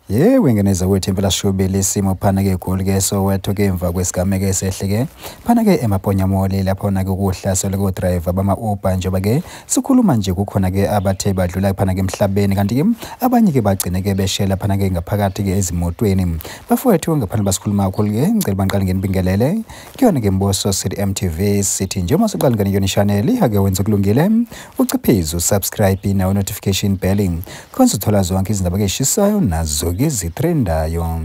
ye wengeneza wethu impela shubile isimo phana-ke egoli ke soweto-ke emva kwesigameko esehle-ke phana-ke emaponyamoli laphona-ke ukuhlaselwe kodrayiva bama-uber njengoba-ke sikhuluma nje kukhona-ke abathe badlula phana-ke emhlabeni kanti-ke abanye-ke bagcine-ke beshela phana-ke ngaphakathi-ke ezimotweni bafowethu ngaphandle basikhuluma kakhulu-ke ngicela bangiqale ngenibingelele kuyona ke mbuso sithi mtv sithi njengoba siqalingane kuyona ishaneli ake wenze kulungile uciphize usubscribe nawo notification belling khonze uthola zonke izindaba keshisayo nazo-ke zithrendayo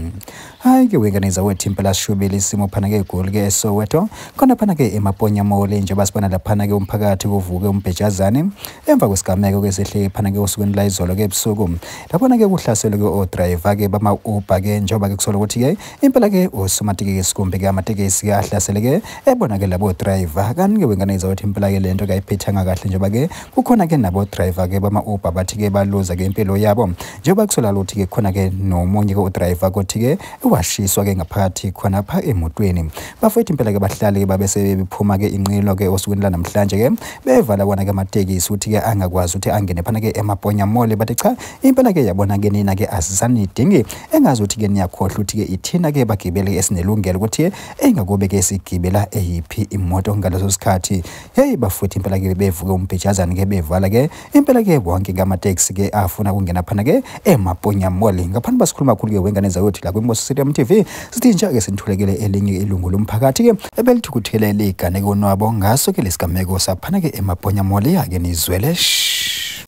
hhayi ke wenganiza wethu impela shubile isimo phana ke egoli ke esoweto khona phana ke emaponya mole njengoba sibona laphana ke umphakathi kuvuke umbhejazane emva kwesigameko ke sehle phana ke osukwini la izolo ke ebusuku laphana ke kuhlaselwe ke odrayiva ke bama-uber ke njengoba ke kusola ukuthi ke impela ke usomatekisi kumbe ke amatekisi ke ahlasele ke ebona ke labo driver kanti ke wengane izawathi impela ke lento ke ayiphethanga kahle njengoba ke kukhona ke nabo driver ke bama Uber bathi ke baluza ke impilo yabo njengoba kusola lothi ke khona ke nomunye ke udriver kothi ke washiswa ke ngaphakathi khona pha emotweni bafethu impela ke bahlale ke babe sebephuma ke inqilo ke osukwini lanamhlanje ke bevala kona ke amatekisi uthi ke angakwazi ukuthi angene phana ke emaponya mole bathi cha impela ke yabona ke nina ke asisanidingi engazi ukuthi ke niyakhohlwa ukuthi ke ithina ke bagibele esinelungelo ukuthi engakube ke sigibela eyiphi imoto ngaleso sikhathi hey bafuthi impela ke bevuke umbhejazana ke bevala ke impela ke wonke ngama taxi ke afuna kungena phana ke emaponya mall ngaphansi basikhuluma kakhulu ke wengane zayothi la kwimboso stadium tv sithi nje ke sinithulekele elinye ilungu lomphakathi ke ebelithukuthele ligane konwabo ngaso ke lesigameko saphana ke emaponya mall yake nizwele shh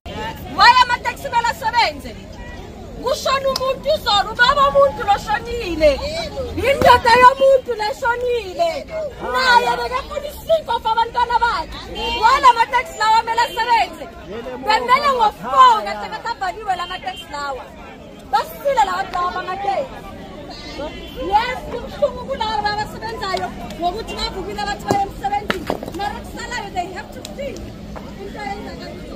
Why amateksi kumele asebenze? Kushona umuntu izolo, ubaba umuntu loshonile. Indoda yomuntu leshonile. Naye bekafuna isinko for abantwana bakhe. Wala amateksi lawa kumele asebenze. Bemele ngo-4 ngathi akasavaliwe la mateksi lawa. basile lawa daba ngateyi yes kubuhlungu kulaba babasebenzayo ngokuthi bavukile abathi baye emsebenzini mara kusalayo they have to feel into eyenzakalo